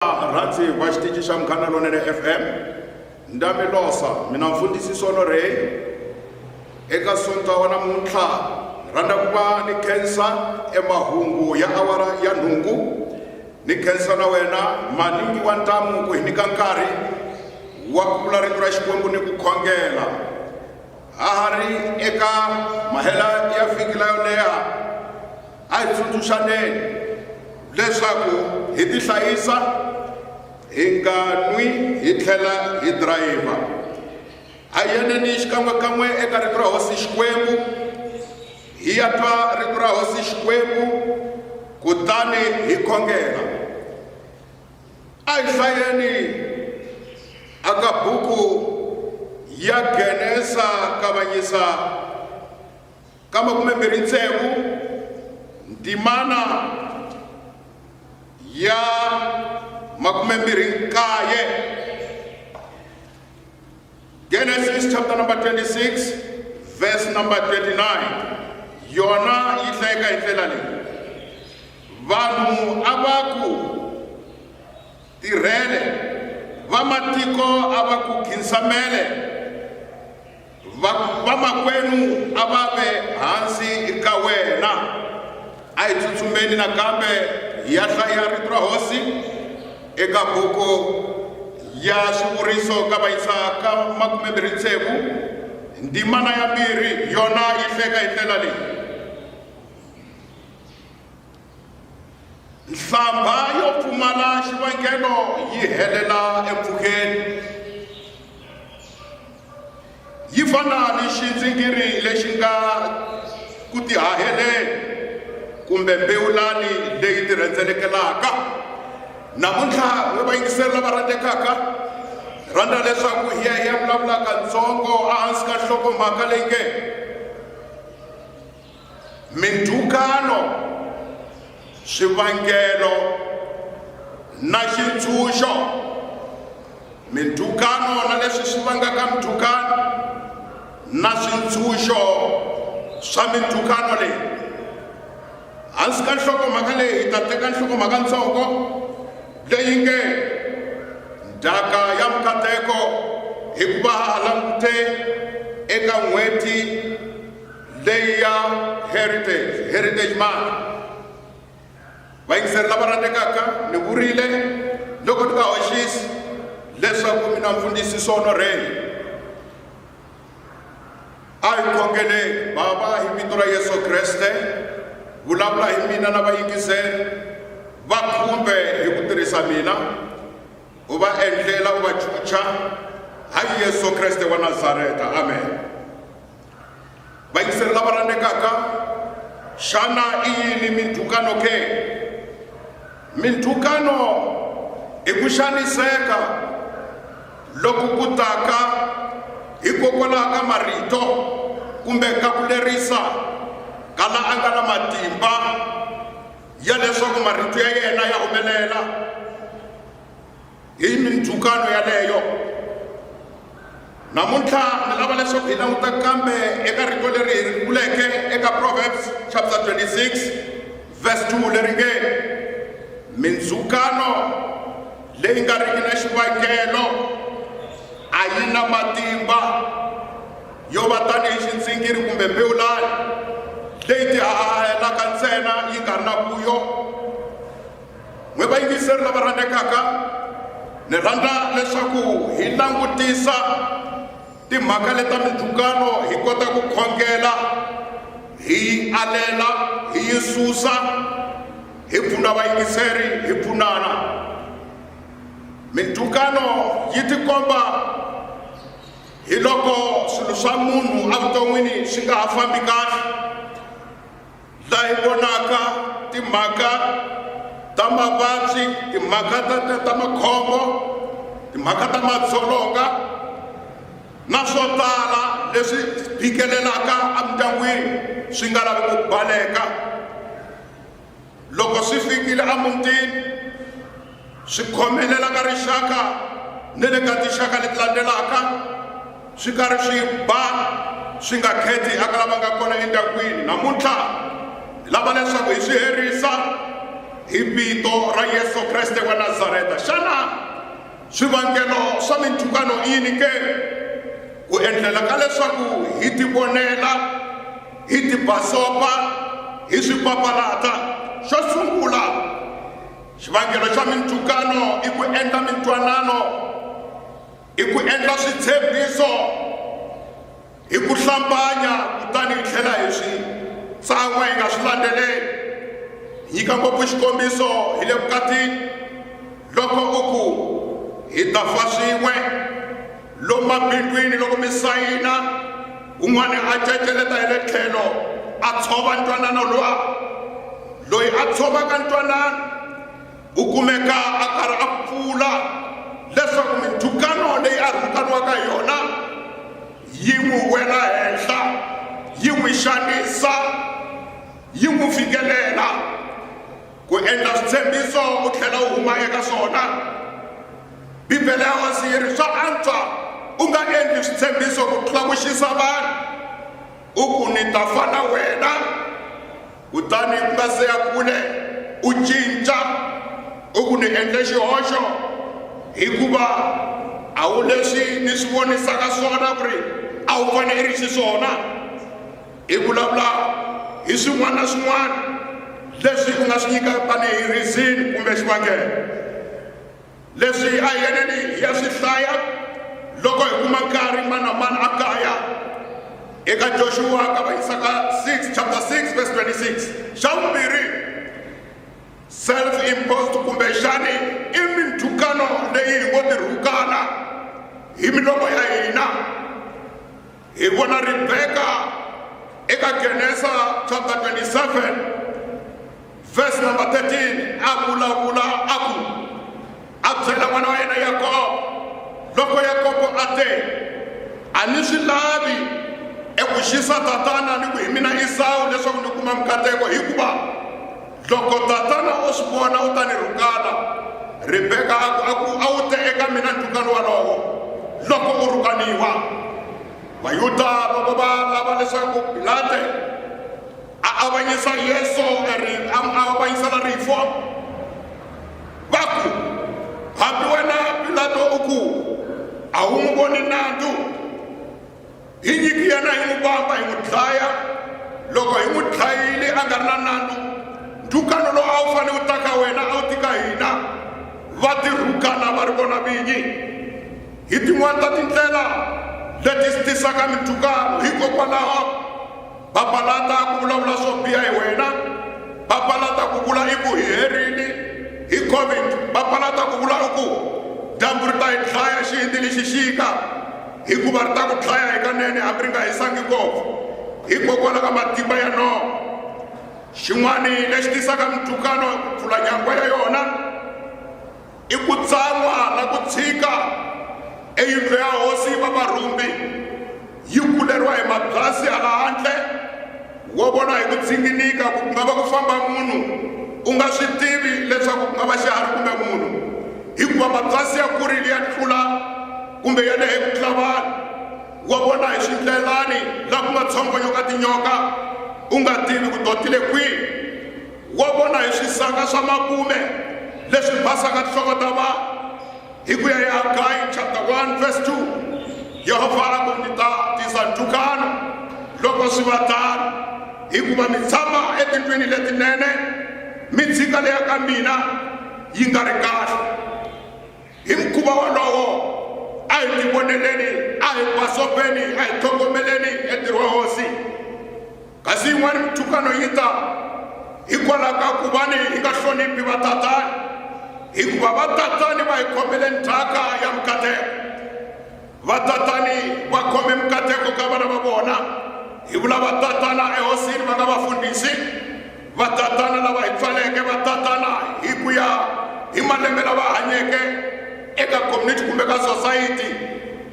rhandzi va xitici xa munghana lonene fm ndamilosa mina mfundhisi solo rey eka sonta wa namuntlha rhandza ku va ni khensa emahungu ya awara ya nhungu ni khensa na wena maningi wa ntamu ku hi nyika nkarhi wa ku vula rito ra xikwembu ni ku khongela ha ha ri eka mahela ya vhiki la yo leha A hi tsundzuxaneni leswaku hi tihlayisa, hi nga nwi hi tlhela hi dirayivha. A hi yaneni xikan'we-kan'we eka Rito ra Hosi Xikwembu, hi ya twa Rito ra Hosi Xikwembu kutani hi khongela. A hi hlayeni aka buku ya Genesa Kavanyisa. ka makume mbirhi ntsevu ndzimana ya makume mbirhi nkaye genesis chapter number 26 verse number 29 yona yi hlayeka hi ndlela leyi vanhu a va ku tirhele vamatiko a va ku khinsamele vamakwenu va a va ve hansi ka wena a hi tsutsumeni nakambe hi ya hlaya rito ra hosi eka buku ya swivuriso ka vayisa ka makumembirhi tsevu ndimana ya mbirhi yona yi hleka hi ndlela leyi nhlambha yo pfumala xivangelo yi helela empfhukeni yi fana ni xindzingiri lexi nga ku tihaheleni kumbe mbewulani leyi tirhendzelekelaka namuntlha we va yingiseri lava rhandzekaka rhandza leswaku hi ya hi ya vulavulaka ntsongo ehansi ka nhlokomhaka leyi nge mindhukano swivangelo na xintshunxo mindhukano na leswi swi vangaka mindhukano na swintshunxo swa mindhukano leyi hansi ka nhlokomhaka leyi hi ta teka nhlokomhaka ntsongo leyi nge ndhaka ya mikateko hikuva ha langute eka n'hweti leyi ya heritage heritage mark vayingiseri lava rhandzekaka ni vurile loko ni nga hoxisi leswaku mina mfundhisi sonorheni a hi khongeleni bava hi vito ra yesu kreste vulavula hi mina na vayingiseri va khumbe hi ku tirhisa mina u va endlela u va chucha hayi yesu kreste wa nazareta amen vayingiseri lava rhandzekaka xana i yini mindzhukano ke mindzhukano i ku xaniseka loku ku taka hikokwalaho ka marito kumbe ka ku lerisa ka la a nga na matimba ya leswaku marito ya yena ya humelela hi mindzhukano yaleyo namuntlha ni lava leswaku hi languta kambe eka rito leri hi ri vuleke eka proverbs chapter 26 verse 2 leri nge mindzhukano leyi nga riki na xivangelo a yi na matimba yo va tanihi xindzingiri kumbe mbewulani leyi tihahahelaka ntsena yi nga ri na vuyo n'wi vayingiseri lava rhandzekaka ni rhandza leswaku hi langutisa timhaka leta mindzhukano hi kota ku khongela hi alela hi yi susa hi pfuna vayingiseri hi pfunana mindzhukano yi tikomba hi loko swilo swa munhu evuton'wini swi nga ha fambi kahle laha hi vonaka timhaka ta mavabyi timhaka ta ta ta makhombo timhaka ta madzolonga na swo tala leswi phikelelaka emindyangwini swi nga lavi ku baleka loko swi fikile emutini swi khomelela ka rixaka ni le ka tinxaka leti landzelaka swi karhi swi ba swi nga kheti aka lava nga kona endyangwini namuntlha hi lava leswaku hi swi herisa hi vito ra yesu kreste wa nazareta xana swivangelo swa minthukano i yini ke ku endlela ka leswaku hi tivonela hi tibasopa hi swi papalata xo sungula xivangelo xa mintukano i ku endla mintwanano i ku endla switshembiso hi ku hlambanya kutani hi tlhela hi swi tsan'wa hi nga swi landzeleli nyika ngopfu xikombiso hi le vukatini loko u ku hi ta fa swin'we Lomu mabindwini loko mi sayina, un'wana a ceceleta hi le tlhelo a tshova ntwanano lowa. Loyi a tshovaka ntwanano u kumeka a karhi a pfula leswaku mindzhukano leyi a rhukaniwaka hi yona yi n'wi wela henhla yi n'wi xanisa yi n'wi fikelela ku endla switshembiso u tlhela u huma eka swona bibele ya wasi yi ri swa antswa u nga endli switshembiso ku tlula ku xisa vanhu u ku ni ta fa na wena kutani ku nga se ya kule u cinca u ku ni endle xihoxo hikuva a wu leswi ni swi vonisaka swona ku ri a wu fanele ri xiswona Hi vulavula hi swin'wana na swin'wana leswi u nga swi nyikaka tanihi rizini kumbe xivangelo leswi a hi yeneni hi ya swi hlaya loko hi kuma nkarhi mani na mani a kaya eka joshua ka va yisaka 6 chapter 6 verse 26 xa vumbirhi self imposed kumbe xani i minthukano leyi hi ngo tirhukana hi milomo ya hina Hi vona Ribeka eka Genesa chapter 27 verse number 13 a vulavula a ku a byela n'wana wa yena Yakobo loko Yakobo a te a ni swi lavi eku xisa tatana ni ku hi mina Esawu leswaku ni kuma mikateko hikuva loko tatana o swi vona u ta ni rhukala rebeka a ku a ku a wu te eka mina ndhukano walowo loko u rhukaniwa vayuda loko va lava leswaku pilate a avanyisa yesu a avanyisela rifu va ku hambi wena pilato u ku a wu n'wi voni nandzu hi nyiki yena hi n'wi vamba hi n'wi dlaya loko hi n'wi dlayile a nga ri na nandzu ndhukano lowu a wu fanele wu ta ka wena a wu tika hina va tirhukana va ri vona vinyi hi tin'wana ta tindlela leti swi tisaka mindhukano hikokwalaho papalata ku vulavula swo biha hi wena papalata ku vula i ku hi herini hi covid papalata ku vula i ku dyambu ri ta hi dlaya xihindi ni xixika hikuva ri ta ku dlaya hikanene hambi ri nga hisangi ngopfu hikokwalaho ka matimba ya noho xin'wana lexi tisaka mintukano pfula nyangwa ya yona i ku tsan'wa na ku tshika eyindlo ya hosi va varhumbi yi kuleriwa hi mabyasi hala handle wo vona hi ku dzinginika ku nga va ku famba munhu u nga swi tivi leswaku ku nga va xiharhi kumbe munhu hikuva mabyasi ya kurile ya tlula kumbe ya lehe ku tlula vanhu wa vona hi swindlelani laha ku nga tshongo yo ka tinyoka u nga tivi ku dotile kwihi Wa vona hi swisaka swa makume leswi basaka tinhloko ta vanhu. Hi ku ya hi Hagayi chapter 1 verse 2, Yehovha a ku, Ndzi ta tisa ntukano loko swi va tano, hikuva mi tshama etindlwini letinene, mi dzika leya ka mina yi nga ri kahle. hi mukhuva wolowo a hi tivoneleni a hi basopeni a hi tlhogomeleni entirho wa hosi kasi yin'wani minthukano yi ta hikwalaho ka ku va ni hi nga hloniphi vatatani hikuva vatatani va hi khomeleni thyaka ya mikateko Vatatani va khome mikateko ka vana va vona. Hi vula vatatana ehosini va nga vafundhisi, vatatana lava hi pfaleke, vatatana hi ku ya hi malembe lava hanyeke eka community kumbe ka sosayiti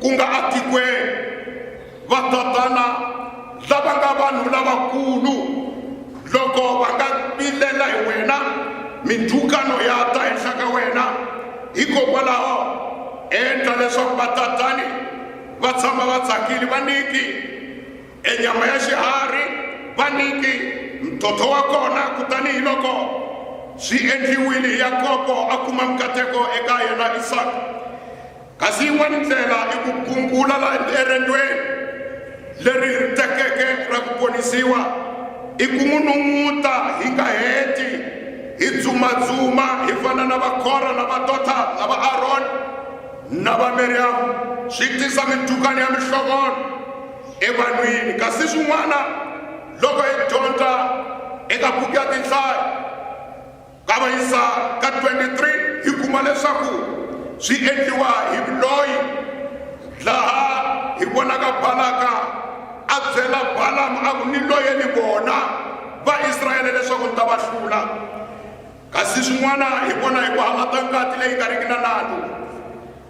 ku nga atikweni. Vatatana. lava nga vanhu lavakulu loko va nga vilela hi wena mindzhukano ya ta henhla ka wena hikokwalaho endla leswaku vatatani va tshama va tsakile va niki enyama ya xiharhi va niki mtotho wa kona kutani hi loko swi endliwile yakobo a kuma mikateko eka yena isaka kasi yin'wana ndlela i ku gungula la erendweni leri hi ri tekeke ra ku ponisiwa i ku n'wi nun'uta hi nga heti hi dzumadzuma hi fana na vakora na vadota na va aroni na va miriyamu swi tisa mintukani ya mihlovono evanhwini kasi swin'wana loko hi dyondza eka buku ya tinhlayo Kavanyisa ka 23 hi kuma leswaku swi endliwa hi vuloyi, laha hi vonaka Balaka a byela Balamu a ku, Ni loye ni vona Vaisraele leswaku ni ta va hlula. Kasi swin'wana hi vona hi ku halata ngati leyi nga riki na nandzu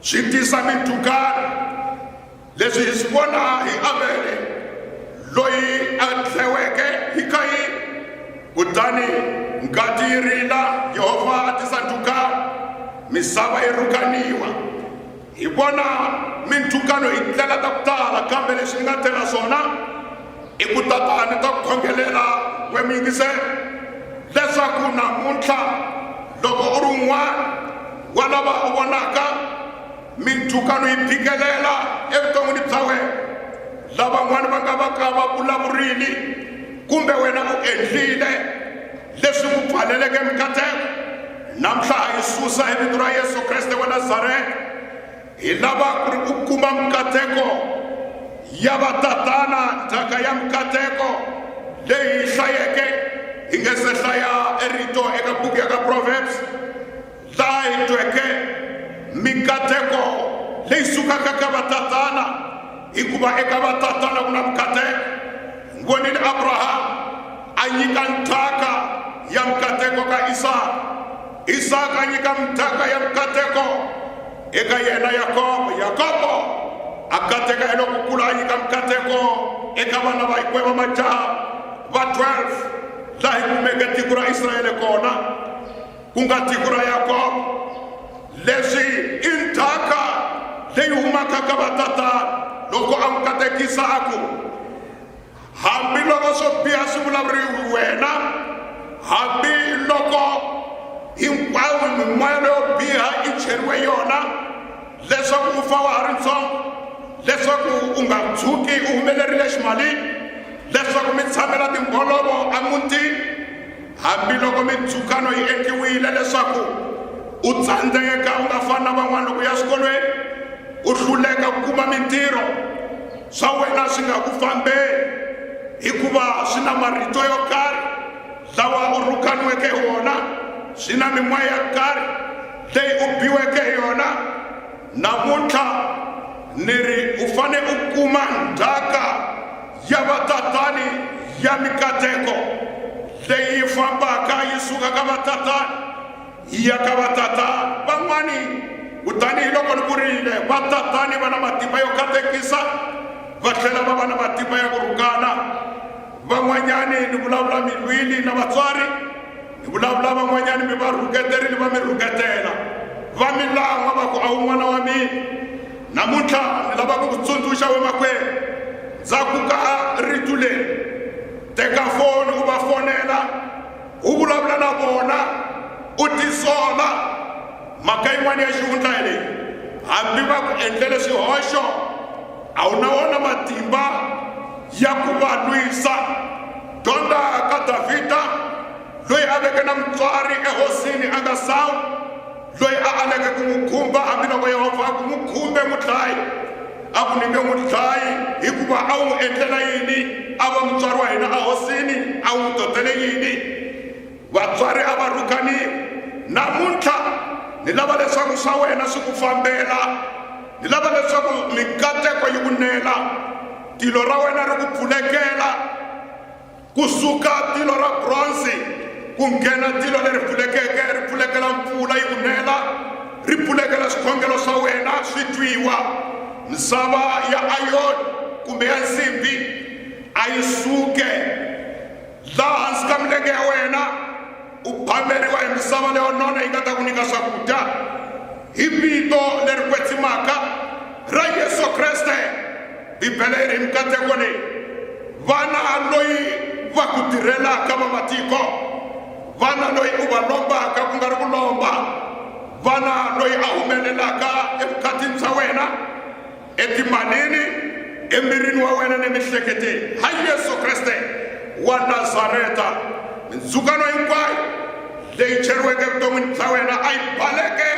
swi tisa mindzhukano. leswi hi swi vona hi avele loyi a dleweke hi kayini kutani ngati yi rila yehovha a tisa ndhukano misava yi rhukaniwa hi vona mindhukano hi ndlela ta ku tala kambe leswi ni nga tela swona i ku tatani ta ku khongelela we mi yingisela leswaku namuntlha loko u ri un'wana wa lava u vonaka Mindzhukano yi phikelela evuton'wini bya wena. Lavan'wana va nga va ka va vulavurile kumbe wena u endlile leswi ku pfaleleke mikateko. Namuntlha ha yi susa hi vito ra Yesu Kreste wa Nazareta. Hi lava ku ri u kuma mikateko ya vatatana, ndzhaka ya mikateko leyi hi hlayeke hi nge se hlaya erito eka buku ya ka Proverbs. laha hi tweke mikateko leyi sukaka ka vatatana hikuva eka vatatana ku na mikateko hi vonile abrahamu a nyika nthaka ya mikateko ka isaka isaka a nyika mithaka ya mikateko eka yena yakobo yakobo a kateka eloko kula a nyika mikateko eka vana va hikwe va majaha va 12 laha hi kumeke tiko ra israele kona ku nga tiko ra yakobo leswi i ndzhaka leyi humaka ka vatatana loko a n'wi katekisa a ku hambiloko swo biha swi vulavuriwi wena hambiloko hinkwayo mimoya leyo biha i cheriwe yona leswaku u fa wa ha ri ntsongo leswaku u nga tshuki u humelerile ximalini leswaku mi tshamela timbolovo emutini Hambiloko mindzhukano yi endliwile leswaku u tsandzeka u nga fani na van'wana loko u ya swikolweni, u hluleka ku kuma mintirho, swa wena swi nga ku fambeli hikuva swi na marito yo karhi lawa u rhukaniweke hi wona, swi na mimoya ya karhi leyi u biweke hi yona. Namuntlha ni ri u fane u kuma ndzhaka. ya vatatani ya mikateko leyi fambaka yi suka ka vatatani yi ya ka vatatani van'wani kutani hi loko ni vurile vatatani va na matimba yo katekisa va tlhela va va na matimba ya ku rhukana van'wanyani ni vulavula mi lwile na vatswari ni vulavula van'wanyani mi va rhuketerile va mi rhuketela va mi lan'wa va ku a wu n'wana wa mina Namuntlha ni lava ku ku tsundzuxa wemakwerhu, ndza ku ka a rito leri, teka foni u va fonela, u vulavula na vona, u tisola. Mhaka yin'wana ya xihundla hi leyi, hambi va ku endlele swihoxo, a wu na wona matimba ya ku va lwisa. Dyondza ka Davhida, loyi a veke na mutswari ehosini a nga sawi. loyi a aleke ku n'wi khumba hambiloko yehovha a ku n'wi khumbe mudlayi a ku nyike mudlayi hikuva a wu n'wi endlela yini a va mutswari wa hina ahosini a wu n'wi totele yini vatswari a va rhukaniwi namuntlha ni lava leswaku swa wena swi ku fambela ni lava leswaku mikateko yi ku nela tilo ra wena ri ku pfulekela Ku suka tilo ra bronze ku nghena tilo leri pfulekeke ri pfulekela mpfula yi ku nela, ri pfulekela swikhongelo swa wena swi twiwa. Misava ya ayoni kumbe ya nsimbi a yi suke laha hansi ka milenge ya wena. u phameriwa hi misava leyo nona yi nga ta ku nyika swakudya hi vito leri kwetsimaka ra yesu kreste bibele yi ri mikateko leyi vana loyi va ku tirhelaka va matiko vana loyi u va lombaka ku nga ri ku lomba vana loyi a humelelaka evukatini bya wena etimalini emirini wa wena ni mihleketeni ha yesu kreste wa nazareta mindzukano hinkwayo leyi cheriweke evuton'wini bya wena a yi baleke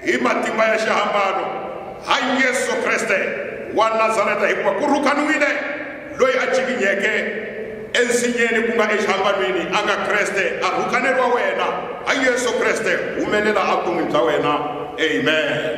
hi matimba ya xihambano ha yesu kreste wa nazareta hikuva ku rhukaniwile loyi a cikinyeke ensinyeni ku nga exihambanweni a nga kreste a rhukaneriwa wena ha yesu kreste humelela a vuton'wini bya wena amen